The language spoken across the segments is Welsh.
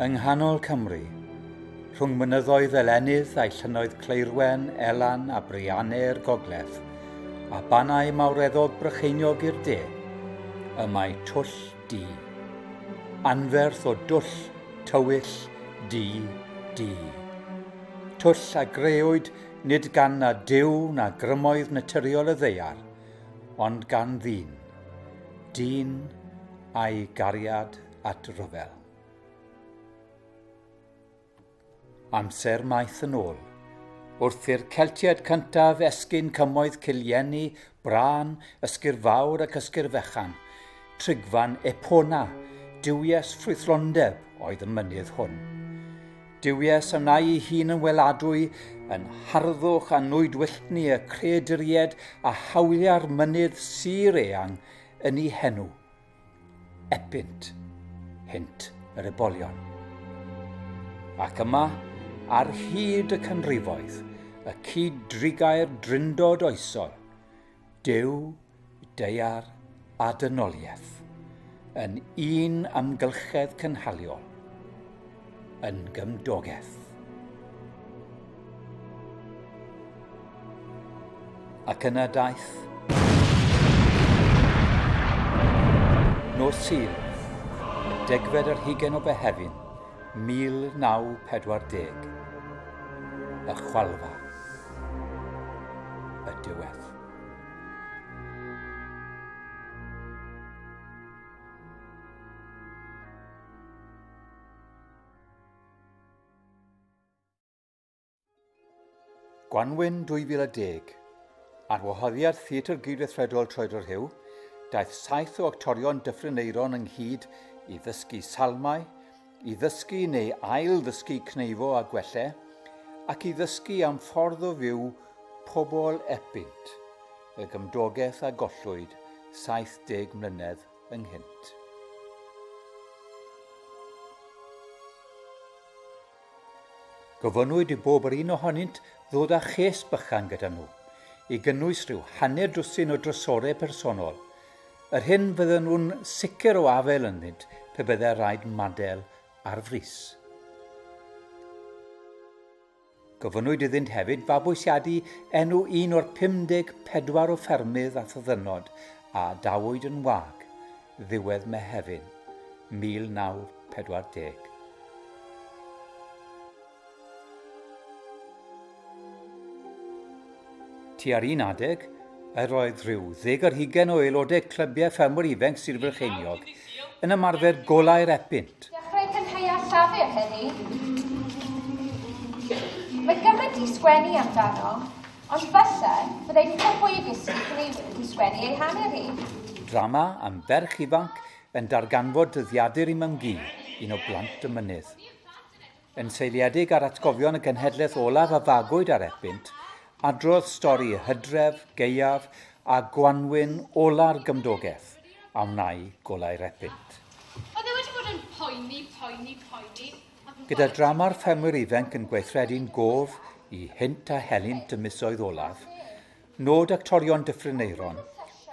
Yng nghanol Cymru, rhwng mynyddoedd fel Enydd a'i llynnoedd Cleirwen, Elan a Brianne i'r gogledd, a Bannau Mawreddog Brycheiniog i'r de, y mae twll du. Anferth o dwll, tywyll, du, du. Twll a greuwyd nid gan na Duw na grymoedd naturiol y ddeiar, ond gan ddyn. Dyn a'i gariad at ryfel. Amser maith yn ôl. Wrth i'r Celtiaid cyntaf esgyn cymoedd Cillieni, Bran, Ysgur Fawr ac Ysgur Fechan, trigfan Epona, duwies ffrwythlondeb oedd y mynydd hwn. Duwies a wna'i ei hun yn weladwy, yn harddwch a nwydwylltni y creaduried a hawlia'r mynydd sir eang yn ei henw. Epynt, hynt yr ebolion. Ac yma, ar hyd y canrifoedd, y cyd-drigair drindod oesol, Duw, deiar a dynoliaeth, yn un amgylchedd cynhaliol. yn gymdogaeth. Ac yna daeth nos Sul, y degfed ar hugen o Behefin, 1940, y chwalfa, y diwedd. Gwanwyn 2010, ar wahoddiad Theatr Gydweithredol Troedford Huw, daeth saith o actorion Dyffryn Eiron ynghyd i ddysgu salmau, i ddysgu neu ail-ddysgu cneifo a gwelle, ac i ddysgu am ffordd o fyw pobl Epynt, y gymdogaeth a gollwyd 70 mlynedd ynghynt. Gofynnwyd i bob yr un ohonynt ddod â ches bychan gyda nhw, i gynnwys rhyw hanner dwsin o drysorau personol, yr hyn fydden nhw'n sicr o afael ynddynt pe byddai rhaid madel ar frys. Gofynnwyd iddynt hefyd fabwysiadu enw un o'r 54 o ffermydd a thyddynnod a dawyd yn wag ddiwedd Mehefin 1940. Tua'r un adeg, yr oedd rhyw ddeg ar hugain o aelodau clybiau ffermwyr ifainc Sir Frycheiniog yn ymarfer golau'r epynt. Dechrau cynhaea llafur heddi. Mae gymaint i sgwennu amdano, ond falle byddai pethau fwy i gysgu pan ei wedi sgwennu ei hanner hi. Drama am ferch ifanc yn darganfod dyddiadur i Mam-gu, un o blant y mynydd. Yn seiliedig ar atgofion y genhedlaeth olaf a fagwyd ar Epynt, adrodd stori hydref, gaeaf a gwanwyn ola'r gymdogaeth a wnai golau'r Epynt. Oedd e wedi bod yn poeni, poeni, poeni, ac yn... Gyda drama'r ffermwyr ifainc yn gweithredu'n gof i hynt a helynt y misoedd olaf, Nod Actorion Dyffryn Aeron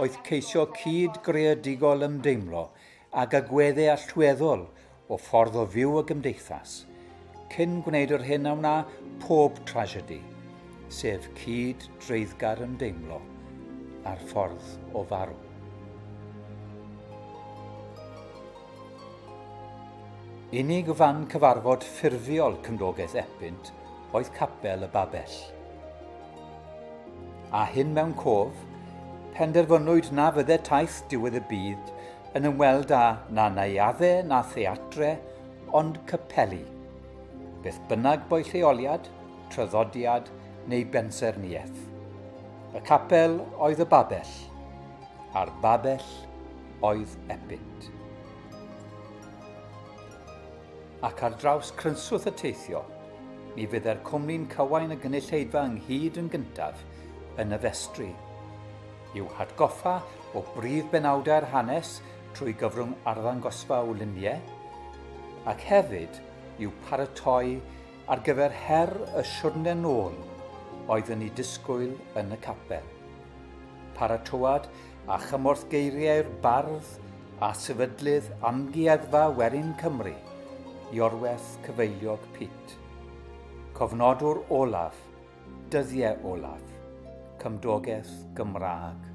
oedd ceisio cyd-greadigol ymdeimlo ag agweddau allweddol o ffordd o fyw y gymdeithas, cyn gwneud yr hyn a wna pob tragedy, sef cyd-dreiddgar ymdeimlo â'r ffordd o farw. Unig fan cyfarfod ffurfiol Cymdogaeth Epynt oedd Capel y Babell. A hyn mewn cof, penderfynwyd na fydde taith diwedd y byd yn ymweld â na naeafe na theatre, ond capeli. Beth bynnag bo'i lleoliad, traddodiad neu bensaernïaeth. Y capel oedd y babell, a'r babell oedd Epynt. Ac ar draws crynswth y teithio, mi fydde'r cwmni'n cywain y gynulleidfa ynghyd yn gyntaf yn y festri, i'w hatgoffa o brif benawdau'r hanes trwy gyfrwng arddangosfa o luniau, ac hefyd i'w paratoi ar gyfer her y siwrne nôl oedd yn ei disgwyl yn y capel. Paratoad a chymorth geiriau'r bardd a sefydlydd Amgueddfa Werin Cymru, Iorwerth Cyfeiliog Pit. Cofnodwr olaf, dyddiau olaf, cymdogaeth Gymraeg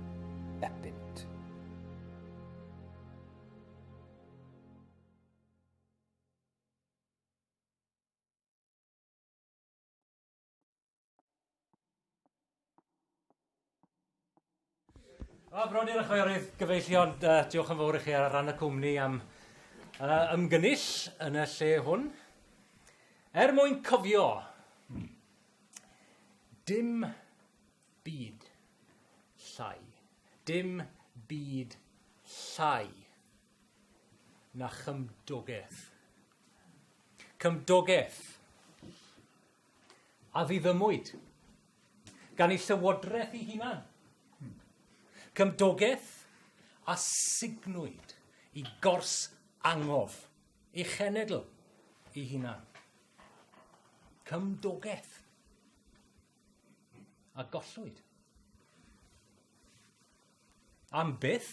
epynt. O, bron i'r chwerydd gyfeillion, uh, diolch yn fawr i chi ar ran y cwmni am uh, ymgynnull yn y lle hwn. Er mwyn cofio, dim byd llai, dim byd llai na chymdogaeth. Cymdogaeth. a ddiddymwyd gan ei llywodraeth ei hunan. Cymdogaeth a signwyd i gors angof ei chenedl ei hunan. Cymdogaeth a gollwyd. Am byth,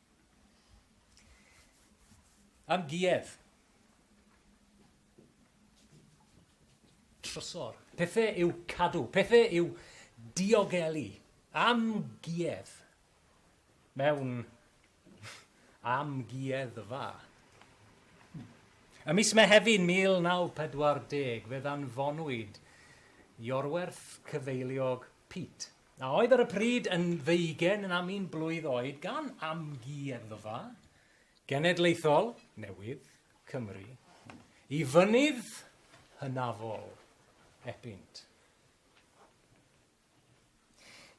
Am Giev. Trysor. Pethau i'w cadw, pethau i'w diogelu. Am Giev. Mewn am Gieddfa. Ym mis Mehefin 1940 fe ddanfonwyd Iorwerth Cyfeiliog Pete a oedd ar y pryd yn ddeugain na mîn blwydd oed gan Amgueddfa Genedlaethol newydd Cymru i fynydd hynafol Epynt.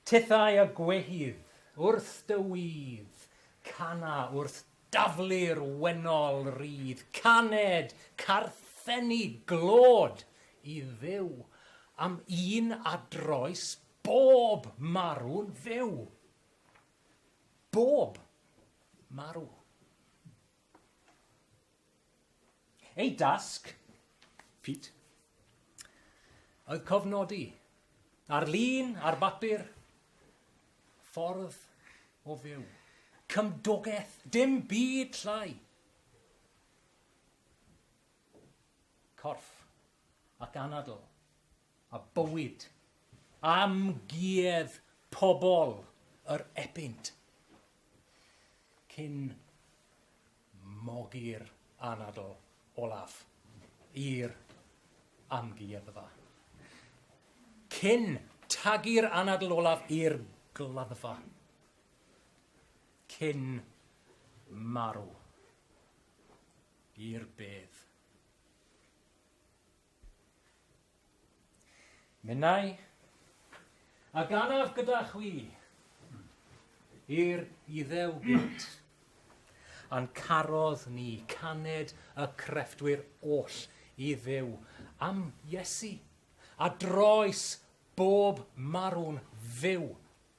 Tithau a gwehydd wrth dy wîdd, cana wrth Daflu'r wennol rydd caned carthenni glod i Dduw, am un a droes bob marw'n fyw. Bob marw. Ei dasg, Pete, oedd cofnodi, ar lun, ar bapur, ffordd o fyw, cymdogaeth, dim byd llai. Corff ac anadl, a bywyd, amguedd pobl yr epynt, cyn Mogi'r anadl olaf i'r amgueddfa. Cyn tagu'r anadl olaf i'r gladdfa. Cyn marw i'r bedd. Minnau, a ganaf gyda chwi, i'r Iddew gynt. A'n carodd ni caned y crefftwyr oll i Dduw am Iesu, a droes bob marw'n fyw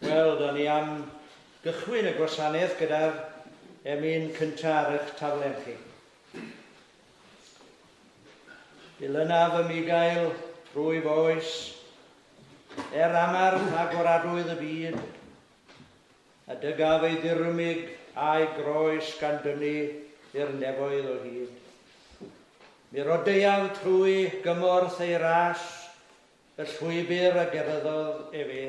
Wel, da ni am gychwyn y gwasanaeth gyda'r emyn cyntaf ar eich taflen chi. Dilynaf ym i gael rwyf oes Er angerdd agoradwydd y byd, a dygaf ei ddirymyg a'i groes gan dynnu i'r nefoedd o hyd, mi rodeuaf trwy gymorth ei ras y llwybr a geryddodd efe.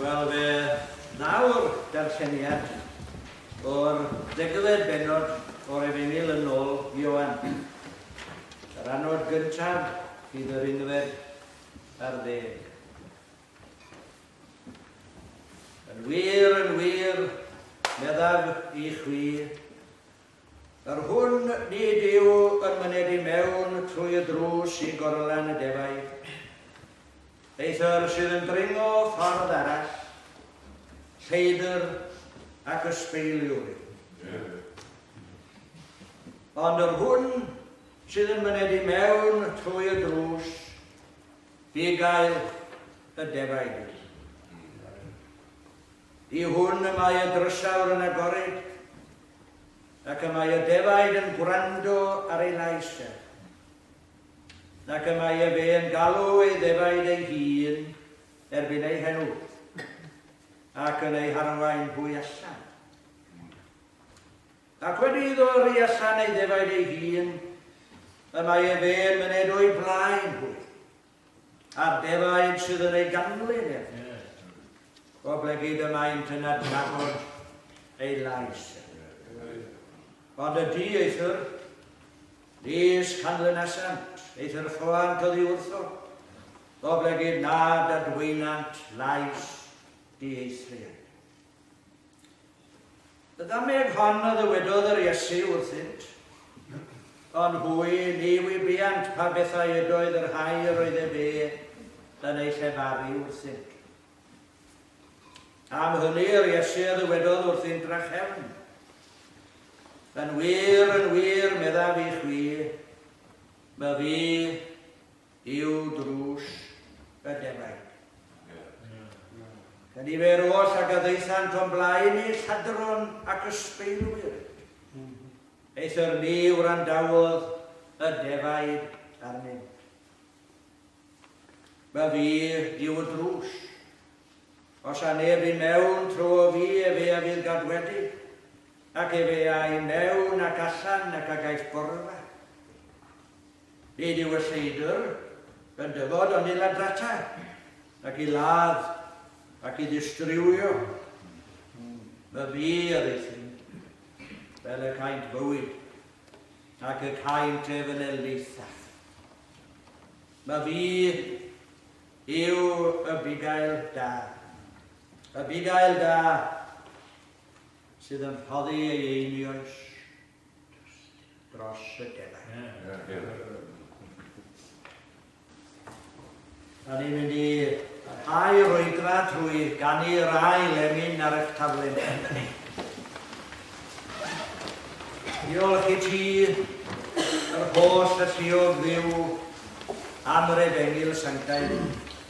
Wel fe nawr darlleniad o'r degfed bennod o'r Efengyl yn ôl Ioan. Yr anod gyntaf fydd yr unfed ar ddeg. Yn wir, yn wir, meddaf i chwi, yr hwn nid yw yn myned i mewn trwy y drws i gorlan y defaid. Eithr sydd yn dringo ffordd arall, lleidr ac ysbeiliwr yw. Ond yr hwn sydd yn myned i mewn trwy y drws, Fi gael y defaid i. Y hwn y mae y drysawr yn agored, ac y mae y defaid yn gwrando ar ei lais e, ac y mae e fe yn galw ei ddefaid ei hun erbyn ei henw, ac yn ei harwain hwy allan. Ac wedi iddo yrru allan ei ddefaid ei hun, y mae ef hen myned o'i blaen hwy, a'r defaid sydd yn ei ganlyn ef. Oblegid y maent yn adnabod ei lais ef. Ond y di eithr, nis canlynasant, eithr choant oddi wrtho, oblegid nad adweinant lais di eithriad. Y ddameg hon a ddywedodd yr Iesu wrthynt, ond hwy ni wybiant pa bethau ydoedd y rhai yr oedd ef e yn eu llefaru wrthynt. Am hynny yr Iesu a ddywedodd wrthynt drachefn, Yn wir, yn wir, meddaf i chwi, my fi I'w drws y defaid. Gan i fer oll ag a ddaethant o'n blaen i lladron ac ysbeilwyr. Eithr ni wrandawodd y defaid arnynt. Ba fi yw y drws. Os a neb i mewn tro o fi efe a fydd gadwedig, ac efe a i mewn ac allan ac a gaiff gorfa. Nid yw y Lleidr yn dyfod ond i ladrata, ac i ladd, ac i ddistriwio. Y bu a rhythu, fel y caent fywyd, ac y caent ef yn elithaf. Y bu yw y bugail da, y bugail da sydd yn rhoddi ei einioes dros y defaid. Da ni'n mynd i rhai yr oedfa trwy ganu yr ail lemin ar eich taflen. Diolch i ti, yr holl y lliog ddiw, am yr efengil sanctaidd.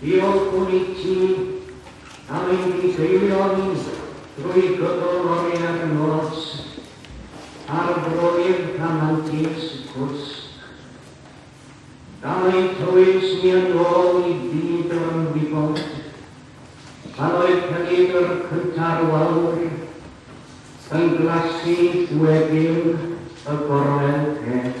Diolchwn i ti am ein difeilio ni drwy gydol oriau'r nos ar droi'r rhamantus gwsg. Gan eu tywys ni yn ôl i fyd yr ymwybod, pan oedd Cefnfudwr cynta'r Wawr yn glasu weddill y gorwel pell.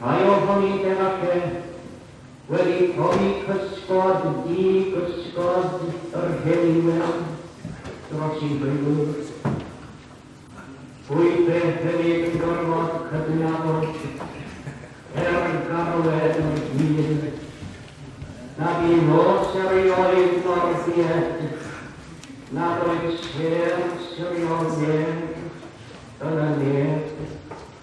Rhai ohoni de falle wedi profi cysgod du gysgod yr Heulyn Wynand dros i Frydwyr. Rwyf beth hefyd yn gorfod cydnabod, er garwed yn hun, nad i nos erioed mor died nad oes her siriol neb yn y neb.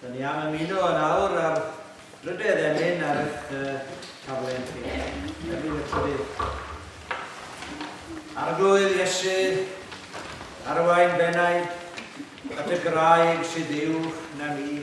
Dyn ni am ymuno yn awr ar rydedd emyn ar eich uh, taflen chi. Emyn y trydydd. Arglwydd Iesu, arwain bennaid at y graig sydd uwch na mi.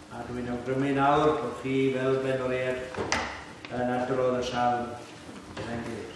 A dwi'n awgrymu nawr bod chi, fel benoriaid, yn adrodd y salm gyda'n gilydd.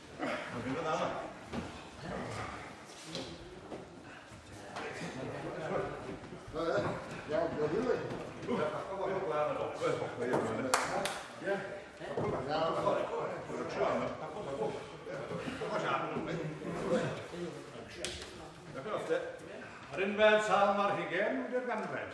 Yr unfed salm ar hugen, Wydr Ganfed.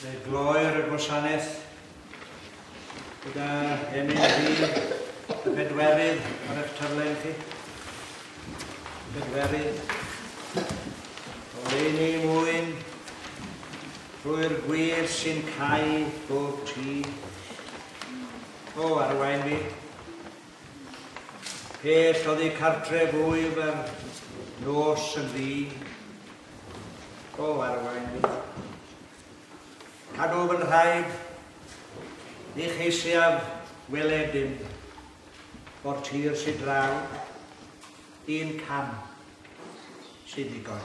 Fe gloer y gwasanaeth gyda MND y bedwerydd ar eich taflen chi. Bedwerydd. O leini mwyn trwy'r gwir sy'n cael bob tî. O, arwain fi. Pell oddi cartref wyf ar nos yn ddi. O, arwain fi. Cadw fy nhraed, ni cheisiaf weled dim. O'r tir sydd draw, un cam sydd ddigon.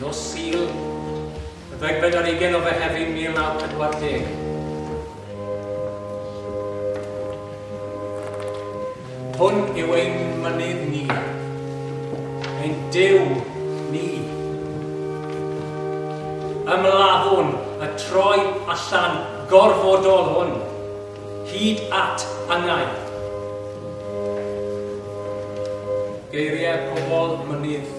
Nos Sul, y ddegfed ar ugen o Fehefin 1940. Hwn yw ein mynydd ni, ein Duw ni. Ymladdwn y troi allan gorfodol hwn, hyd at angau. Geiriau pobl mynydd